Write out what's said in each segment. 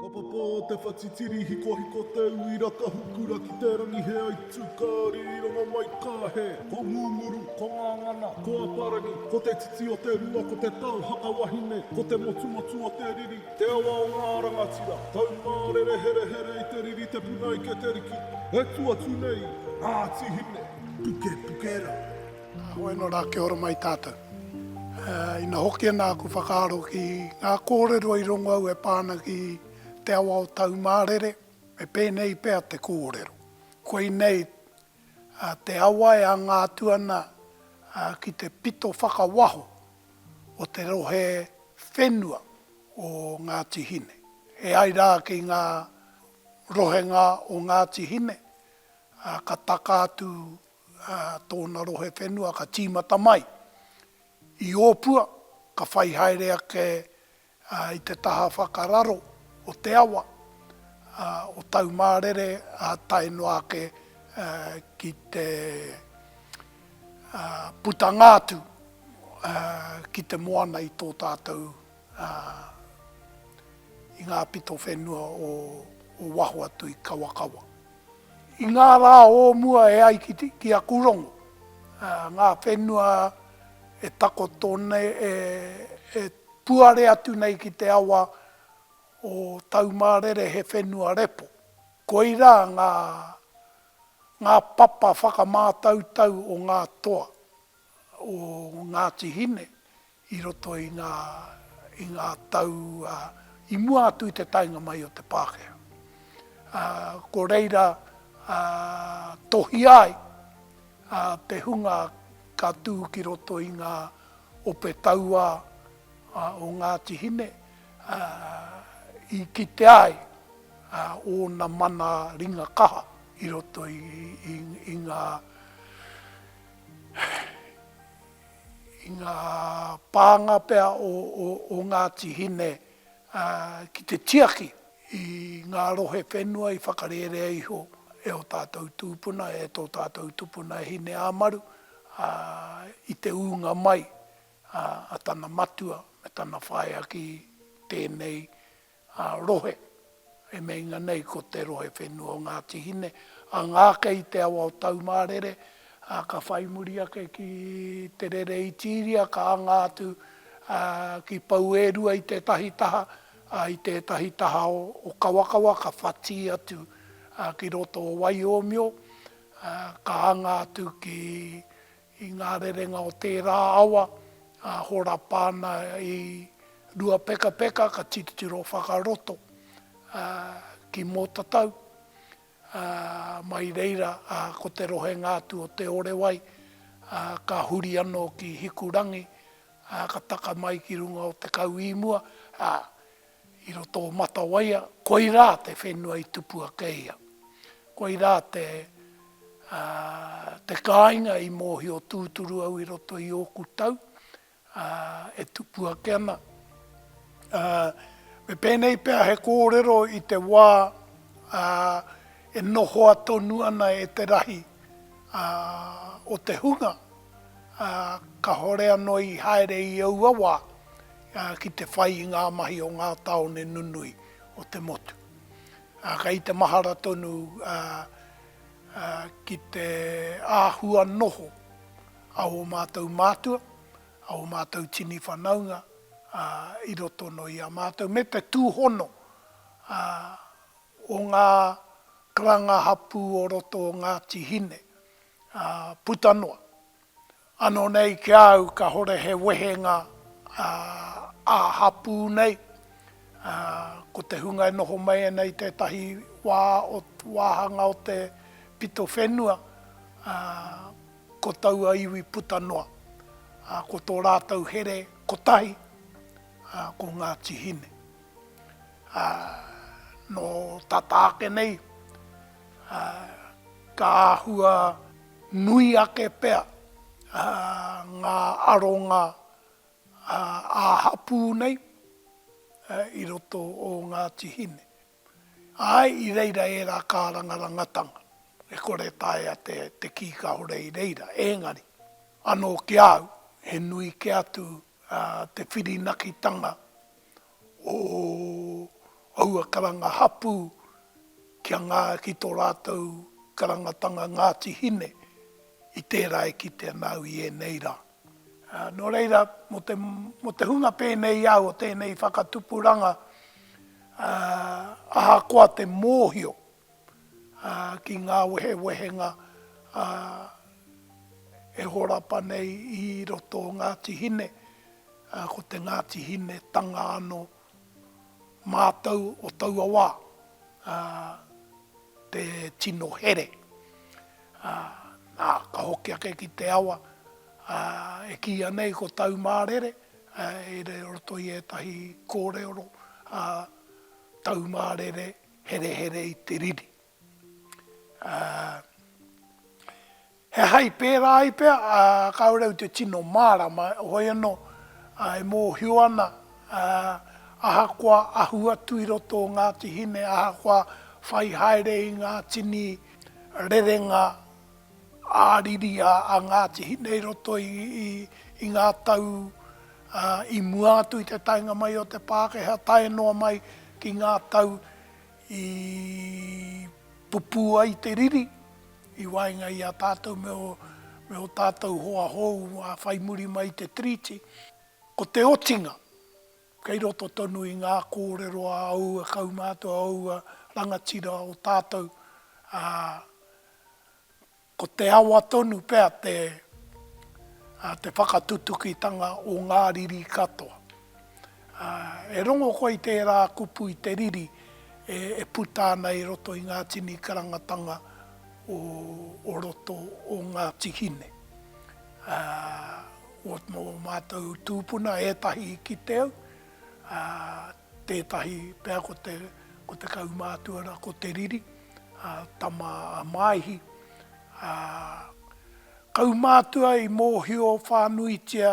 Ka papa te whatitiri hikohiko te uira ka hukura ki te rangi he aitu ka rironga mai ka he Ko Ngunguru, ko Ngangana, ko Aparangi Ko te titi o te rua ko te tau haka wahine Ko te motumotu o te riri te awa o ngā rangatira Taumārere herehere i te riri te puna ike te riki E tu atu nei ngā tihine Puke puke rā. Hoi no ra kia ora mai tatou. Ina hoki ana aku whakaaro ki nga korero i rongo au e pa ana ki te awa o Taumarere, me penei pea te korero, Koinei te awa e anga atu ana ki te pito whakawaho o te rohe whenua o Ngati Hine. E ai ra ki nga rohenga o Ngati Hine, ka taka atu tōna rohe whenua ka tīmata mai i Ōpua, ka whai haere ake i te taha whakararo o te awa o Taumārere tae noa ake ki te putanga atu ki te moana i tō tātou. ā, i ngā pito whenua o waho atu i Kawakawa. I ngā rā o mua e ai ki a Kūrongo, ngā whenua e takoto nei, e puare atu nei ki te awa o Taumārere he whenua repo. Koirā ngā papa whakamātautau o ngā toa. o Ngāti Hine i roto i ngā i ngā tau i mua atu i te taenga mai o te Pākehā. Ko reira tohia ai te hunga ka tū ki roto i ngā ope tauā o Ngāti Hine i kitea ai ōna mana ringa kaha i roto i ngā i ngā pānga pea o Ngāti Hine ki te tiaki i ngā rohe whenua i whakarērea iho e ō tātou tūpuna, e tō tātou tupuna e Hineāmaru i te ūnga mai a tana matua me tana whaea ki tēnei ā, rohe, e meinga nei ko te rohe whenua o Ngāti Hine, a Ngāke i te awa o Taumārere, ā, ka whai muri ake ki Te Rere Itiiria, ka anga atu ki Pouērua i tētahi taha, ā, i tētahi taha o Kawakawa ka whati atu ki roto o Waiōmio, ā, ka anga atu ki i ngā rerenga o tērā awa, ā, horapa ana i Ruapekapeka ka titiro whakaroto ki Mōtatau, ā, mai reira ko te rohenga atu o Te Orewai ka huri anō ki Hikurangi, ā, ka taka mai ki runga o Te Kauīmua, ā, I roto o Matawaia, koirā te whenua i tupu ake ia. Koirā te te kāinga i mōhio tūturu au i roto i ōku tau e tupu ake ana. Me pēnei pea he kōrero i te wā e nohoa tonu ana e te rahi o te hunga, kāore anō i haere i aua wā, ki te whai i ngā mahi o ngā tāone nunui o te motu. Kei te mahara tonu ki te āhua noho a ō mātou mātua, a ō mātou tini whanaunga i roto anō i a mātou, me te tūhono o ngā karanga hapū o roto o Ngāti Hine puta noa. Ano nei ki a au kahore he wehenga a hapu nei, ko te hunga e noho mai ana i tetahi wa o wahanga o te pito whenua, ko taua iwi puta noa, ko to ratou here kotahi, ko Ngati Hine. No tata ake nei, ka ahua. Nui ake pea ngā aronga ā-hapū nei i roto o Ngāti Hine. Āe, i reira ērā kārangarangatanga e kore e taea te kī kāore i reira, ēngari, anō ki a au, he nui kē atu te whirinakitanga o aua karanga hapū kia ngā ki tō rātou karangatanga Ngāti Hine i tērā e kite ana au i ēnei rā. Nō reira, mō te hunga pēnei i a au o tēnei whakatupuranga, ahakoa te mōhio ki ngā wehewehenga e horapa nei i roto o Ngāti Hine, ko te Ngāti Hinetanga anō. Mātou o taua wā, te tino here, nā, ka hoki ake ki te awa, e kīia nei ko Taumārere, i roto i ētahi kōrero, Taumārere, Herehere i te riri. Ā, he aha i pērā ai pea, ā, kāore au te tino mārama, hoi anō, ā, e mōhio ana, ā, ahakoa ahu atu i roto o Ngāti Hine, ahakoa whai haere i ngā tini rerenga ā-riri a Ngāti Hine i roto i ngā tau i mua atu i te taenga mai o te Pākehā tae noa mai ki ngā tau i pupū ai te riri i waenga i a tātou me ō tātou hoa hou whai muri mai i te Tiriti. Ko te otinga. Kei roto tonu i ngā kōrero a aua kaumātua, aua rangatira o tātou, ā, ko te awa tonu pea te, ā, te whakatutukitanga o ngā riri katoa. Ā, e rongo koe i tērā kupu, i te riri e, e puta ana i roto i ngā tini karangatanga o roto o Ngāti Hine. Ko ō mātou tūpuna ētahi i kite au, tētahi pea ko te ko te kaumātua ko Te Riri, tama a Māihi. Kaumātua i mōhio whānuitia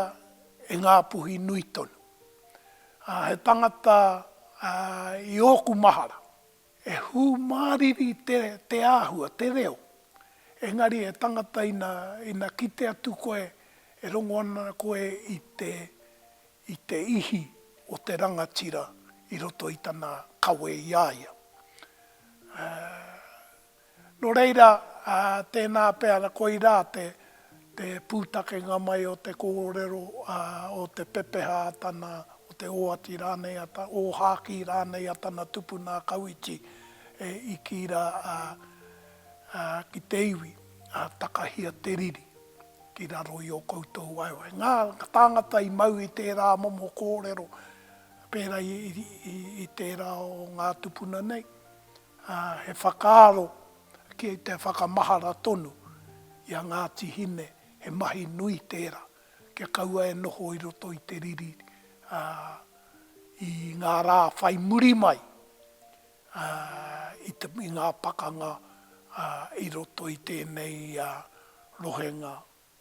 e Ngāpuhi nui tonu. He tangata i ōku mahara. E hūmāriri te āhua, te reo. Engari he tangata ina kite atu koe e rongo ana koe i te i te ihi o te rangatira i roto i tana kawe i a ia. Ā. Nō reira, tēnā pea koirā te pūtakenga mai o te kōrero, o te pepeha a tana, o te oati rānei, ōhākī rānei a tana tupuna a Kauiti e iki ra ki te iwi, takahia te riri ki raro i o koutou waewae. Ngā tāngata i mau i tērā momo kōrero pēra i tērā o ngā tupuna nei, ā, he whakaaro ki te whakamahara tonu i a Ngāti Hine, he mahi nui tērā, kia kaua e noho i roto i te riri, ā, i ngā rā whai muri mai, ā, i te, i ngā pakanga, ā, i roto i tēnei rohenga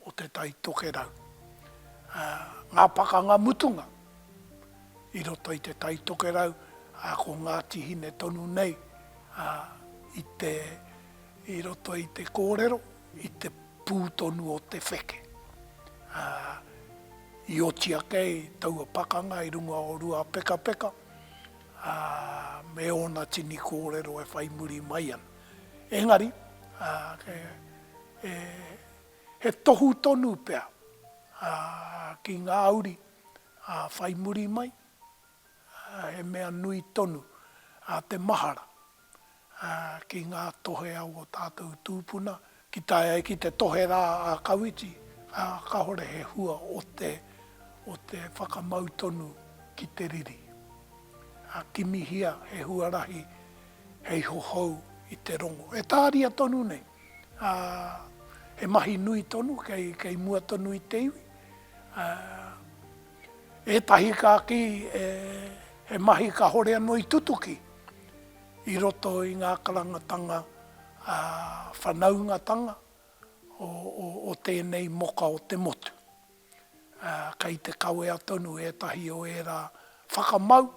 o Te Tai Tokerau, ā, ngā pakanga mutunga i roto i Te Tai Tokerau, ā, ko Ngāti Hine tonu nei, ā, i te, i roto i te kōrero, i te pū tonu o te wheke, ā, i oti ake ai taua pakanga i runga o Ruapekapeka, ā, me ōna tini kōrero e whai muri mai ana. Engari, ā, e, e he tohu tonu pea ki ngā uri whai muri mai, he mea nui tonu te mahara ki ngā tohe a ō tātou tūpuna, ki tae ai ki te tohe rā a Kawiti, kāore he hua o te whakamau tonu ki te riri. Kimihia he huarahi hei hohou i te rongo, e tāria tonu nei. ā, he mahi nui tonu kei, kei mua tonu i te iwi. Ā, ētahi ka kī he, he mahi kāore anō i tutuki i roto i ngā karangatanga ā, whanaungatanga o, o, o tēnei moka o te motu. ā, kei te kawea tonu ētahi o ērā whakamau,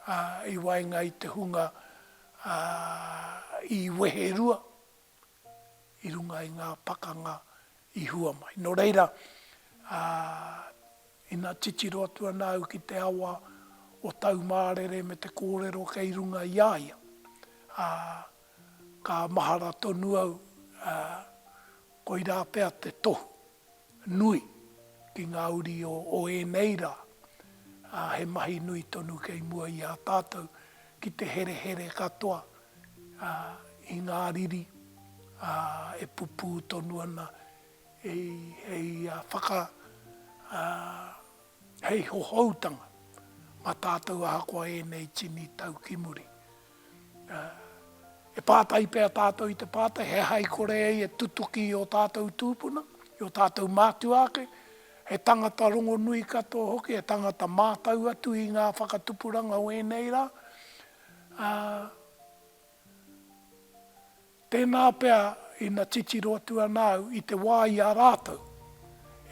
ā, i waenga i te hunga, ā, i weherua i runga i ngā pakanga i hua mai. Nō reira, ā, ina titiro atu ana au ki te awa o Taumārere me te kōrero kei runga i a ia, ā, ka mahara tonu au, ā, koirā pea te tohu. nui ki ngā uri o ēnei rā, ā, he mahi nui tonu kei mua i a tātou ki te herehere katoa i ngā riri e pupū tonu ana hei whaka, hei hohoutanga mā tātou ahakoa ēnei tini tau ki muri. E pātai pea tātou i te pātai, he aha i kore ai e tutuki i ō tātou tūpuna, i ō tātou mātua ake, he tangata rongonui katoa hoki, he tangata mātau atu i ngā whakatupuranga o ēnei rā? Tēnā pea ina titiro atu ana au i te wā i a rātou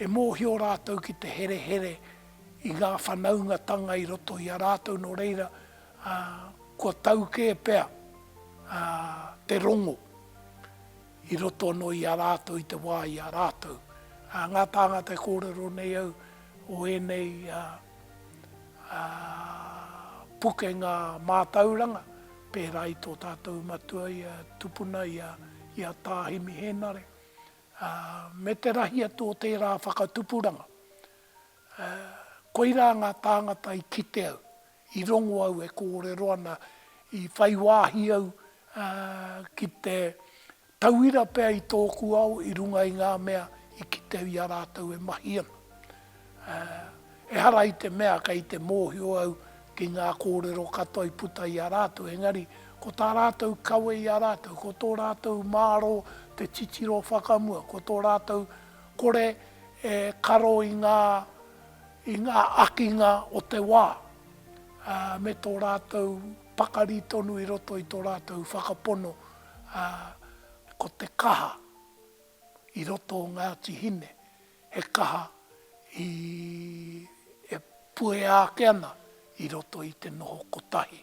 e mōhio rātou ki te herehere i ngā whanaungatanga i roto i a rātou nō reira kua tau kē pea te rongo i roto anō i a rātou i te wā i a rātou. Ngā tāngata e kōrero nei au o ēnei pukenga mātauranga, pērā i tō tātou matua i a tupuna i a Tā Himi Hēnare, me te rahi atu o tērā whakatupuranga. Koirā ngā tāngata i kite au, i rongo au e kōrero ana, i whai wāhi au ki te Tauira pea i tōku ao i runga i ngā mea i kite i a rātou e mahi ana. Ehara i te mea kei te mōhio au ki ngā kōrero katoa i puta i a rātou, engari ko tā rātou kawe i a rātou, ko tō rātou mārō te titiro whakamua, ko tō rātou kore e karo i ngā i ngā akinga o te wā, me tō rātou pakari tonu i roto i tō rātou whakapono ā, ko te kaha i roto o Ngāti Hine, he kaha i, e puea ake ana i roto i te noho kotahi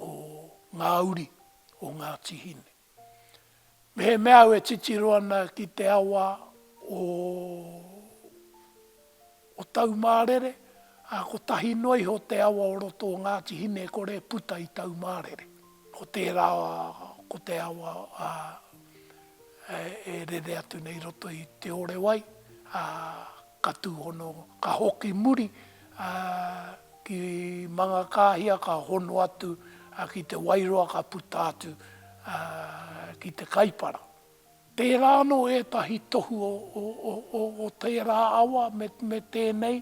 o ngā uri o Ngāti Hine. Mehemea au e titiro ana ki te awa o o Taumārere, ā, kotahi noa iho te awa o roto o Ngāti Hinekore e puta i Taumārere. Ko tērā ko te awa e rere atu nei i roto i Te Orewai, ā, ka tūhono, ka hoki muri ki Mangakāhia, ka hono atu ki Te Wairoa, ka puta atu ki Te Kaipara. Tērā anō ētahi tohu o tērā awa me tēnei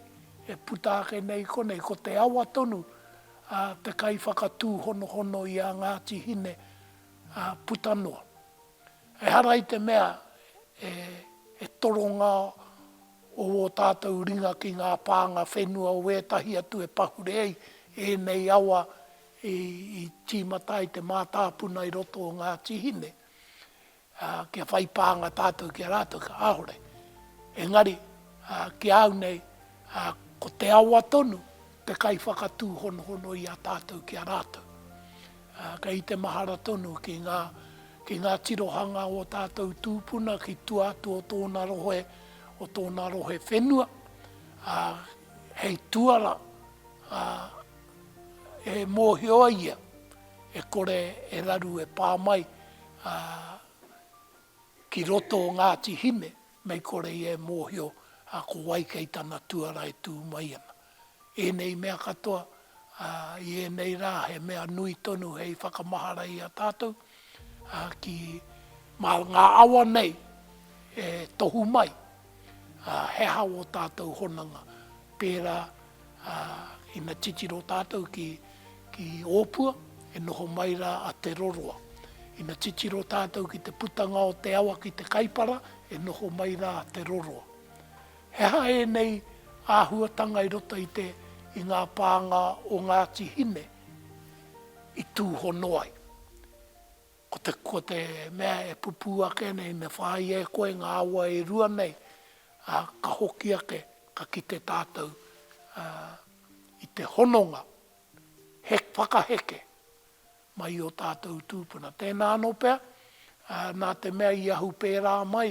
e puta ake nei i konei. Ko te awa tonu te kaiwhakatūhonohono i a Ngāti Hine puta noa. Ehara i te mea he toronga o ō tātou ringa ki ngā pānga whenua o ētahi atu e pahure ai ēnei awa i tīmata ai te mātāpuna i roto o Ngāti Hine. ā, kia whai pānga tātou ki a rātou, kāore. Engari, ā, ki a au nei, ā, ko te awa tonu te kaiwhakatūhonohono i a tātou ki a rātou. Ā, kei te mahara tonu ki ngā, ki ngā tirohanga o tātou tūpuna ki tua atu o tōna rohe, o tōna rohe whenua, ā, hei tuara, ā, e mōhio ai ia. e kore e raru e pā mai ki roto o Ngāti Hine mei kore ia e mōhio ko wai kei tana tuara e tū mai ana. Ēnei mea katoa i ēnei rā he mea nui tonu hei whakamahara i a tātou ki mā ngā awa nei e tohu mai he aha ō tātou hononga pērā Ā, ina titiro tātou ki, ki Ōpua, e noho mai rā a Te Roroa. Ina titiro tātou ki te putanga o te awa ki te Kaipara, e noho mai rā a Te Roroa. He aha ēnei āhuatanga i roto i te, i ngā pānga o Ngāti Hine i tūhono ai? Ko te, ko te mea e pupū ake nei, me whāia e koe ngā awa e rua nei, ā, ka hoki ake, ka kite tātou, ā, i te hononga he, whakaheke mai i ō tātou tūpuna. Tēnā anō pea, ā, nā te mea i ahu pērā mai,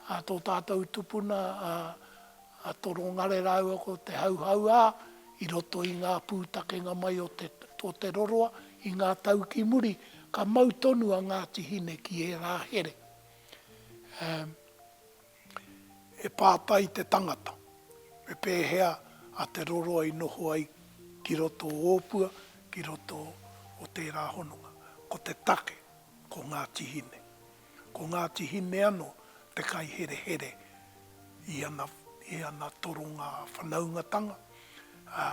ā, tō tātou tupuna, ā, a Torongare rāua ko Te Hauhauā i roto i ngā pūtakenga mai o Te o Te Roroa i ngā tau ki muri, ka mau tonu a Ngāti Hine ki ērā here. Um, he pātai te tangata, me pēhea a Te Roroa i noho ai ki roto o Ōpua, ki roto o tērā hononga? Ko te take, ko Ngāti Hine. Ko Ngāti Hine ano te kaiherehere i ana i ana toronga whanaungatanga, ā,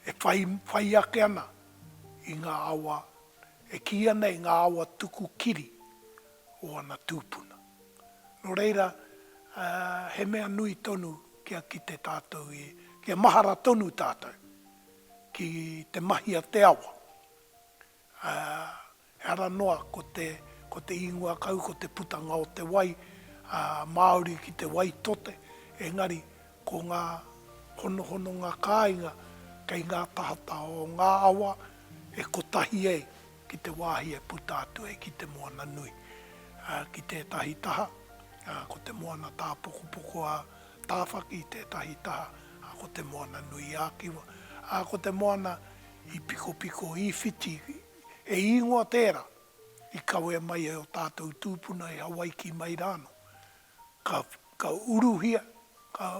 e whai, whai ake ana i ngā awa, e kīia nei ngā awa tuku kiri o ana tūpuna. Nō reira, ā, he mea nui tonu kia kite tātou i, kia mahara tonu tātou ki te mahi a te awa, ā, ehara noa ko te, ko te ingoa kau ko te putanga o te wai, ā, māori ki te wai tote, engari ko ngā honohononga kāinga kei ngā tahata o ngā awa e kotahi ai ki te wāhi e puta atu ai ki te moana nui, ā, ki tētahi taha, ā, ko te moana tāpokopoko a Tāwhaki, tētahi taha, ā, ko te moana nui ā-kiwa, ā, ko te moana I Pikopiko, i Whiti, he īngoa tērā i kawea mai e ō tātou tūpuna e Hawaiki mai rānō. Ka, ka uruhia, ka,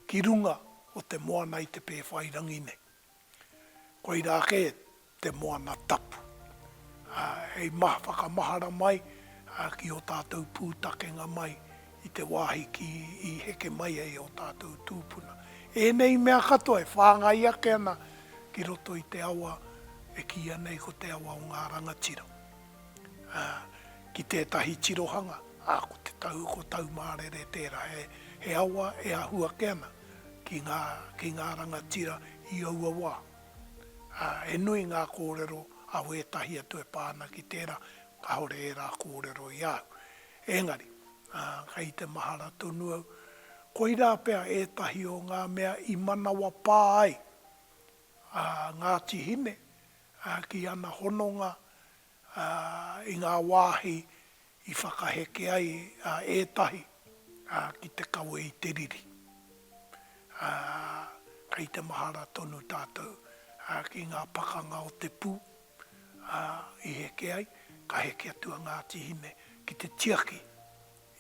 ki runga o te moana i te pēwhai rangi nei. Koirā kē te moana tapu. Ā, hei maha, whakamahara mai, ā, ki ō tātou pūtakenga mai i te wāhi ki i heke mai ai ō tātou tūpuna. Ēnei mea katoa e whāngai ake ana ki roto i te awa e kīia nei ko te awa o ngā rangatira, ā, ki tētahi tirohanga, ā, ko te tau, ko Taumārere tērā, he, he awa e ahu ake ana ki ngā, ki ngā rangatira i aua wā. Ā, he nui ngā kōrero a wētahi atu e pā ana ki tērā, kāore ērā kōrero i a au. Engari, kei te mahara tonu au, koirā pea ētahi o ngā mea i manawapā ai a Ngāti Hine ki ana hononga i ngā wāhi i whakaheke ai ētahi ki te kawe i te riri. Kei te mahara tonu tātou ki ngā pakanga o te pū. ā, i heke ai, ka heke atu a Ngāti Hine ki te tiaki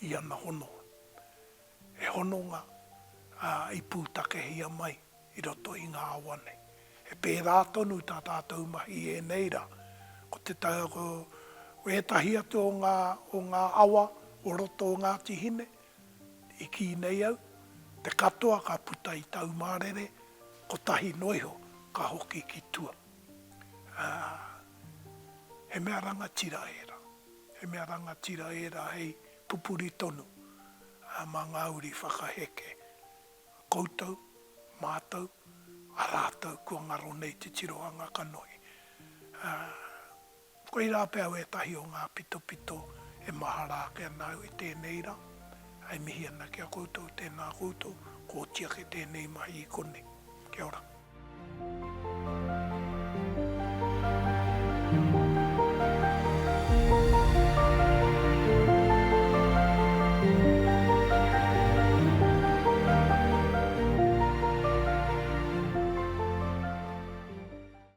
i ana hononga. He hononga, ā, i pūtakehia mai i roto i ngā awa nei. He pērā tonu tā tātou mahi i ēnei rā. Ko te tau, ko ētahi atu o ngā, o ngā awa o roto o Ngāti Hine, i kī nei au, te katoa ka puta i Taumārere, kotahi noa iho ka hoki ki tua. ā, he mea rangatira ērā. He mea rangatira ērā hei pupuri tonu mā ngā uri whakaheke. Koutou, mātou, a rātou kua ngaro nei te tirohanga kanohi. Koirā pea au ētahi o ngā pitopito e mahara ake ana au i tēnei rā. E mihi ana ki a koutou, tēnā koutou, kō tiake tēnei mahi i konei. Kia ora.